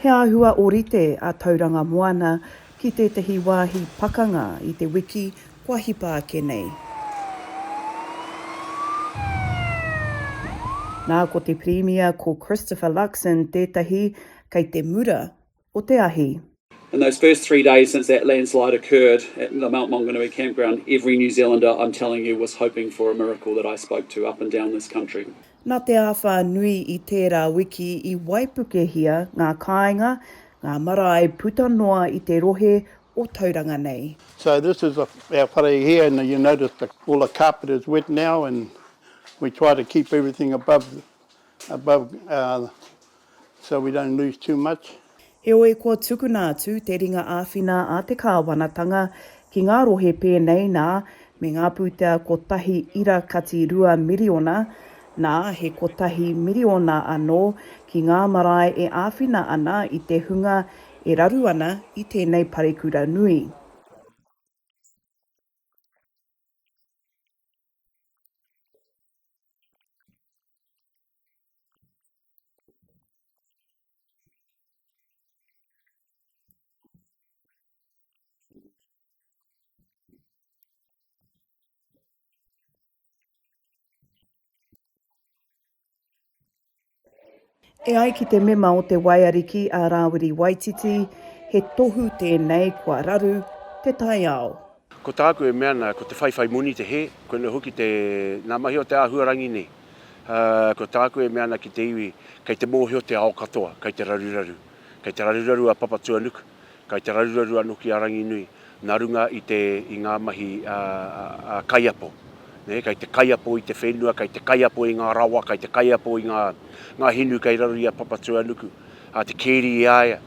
He āhua ōrite a Tauranga Moana ki tētahi wāhi pakanga i te wiki kua hipa ake nei. Nā, ko te Pirimia, ko Christopher Luxon tētahi kei te mura o te ahi. In those first three days since that landslide occurred at the Mount Maunganui campground, every New Zealander I'm telling you was hoping for a miracle that I spoke to up and down this country. Nā te āwhā nui i tērā wiki i waipukehia ngā kāinga, ngā marae puta noa i te rohe o Tauranga nei. So this is our whare here and you notice the all the carpet is wet now and we try to keep everything above above uh so we don't lose too much. Heoi kua tukuna atu te ringa āwhina a te Kāwanatanga ki ngā rohe pēnei nā, me ngā pūtea kotahi ira kati rua miriona, nā, he kotahi miriona anō ki ngā marae e āwhina ana i te hunga e raru ana i tēnei parekura nui. E ai ki te mema o te Waiariki a Rāwiri Waititi, he tohu tēnei kua raru te taiao. Ko tāku e mea ana, ko te whaiwhai moni te hē, koinei hoki te, ngā mahi o te āhuarangi nei. Ko tāku e mea ana ki te iwi, kei te mōhio te ao katoa, kei te raruraru. Kei te raruraru a Papatuanuku, kei te raruraru anō ki a Ranginui, nā runga i te, i ngā mahi kaiapo. Kei te kaiapo i te whenua, kei te kaiapo i ngā rawa, kei te kaiapo i ngā, ngā hinu kei raro i a Papatuanuku, te keri i a ia.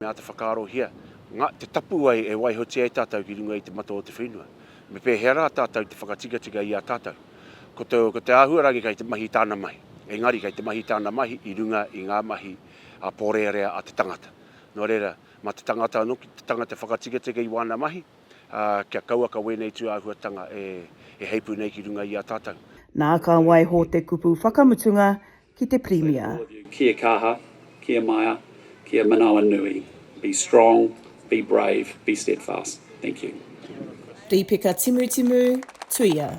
Me āta whakaarohia ngā, te tapu ai e waihotia e tātou ki runga i te mato o te whenua. Me pēhea rā tātou te whakatikatika i a tātou? Ko te, ko te āhuarangi kei te mahi tāna mahi. Engari kei te mahi tāna mahi i runga i ngā mahi ā-pōrearea a te tangata. Nō reira, mā te tangata anō ki te tangata whakatikatika i wāna mahi, ā, kia kauaka wēnei tūāhuatanga e, e heipū nei ki runga i a tātou. Nā, ka waiho te kupu whakamutunga, ki te Pirimia. Kia kaha, kia maea, kia manawa nui. Be strong, be brave, be steadfast. Thank you. Rīpeka Timutimu, Tuia.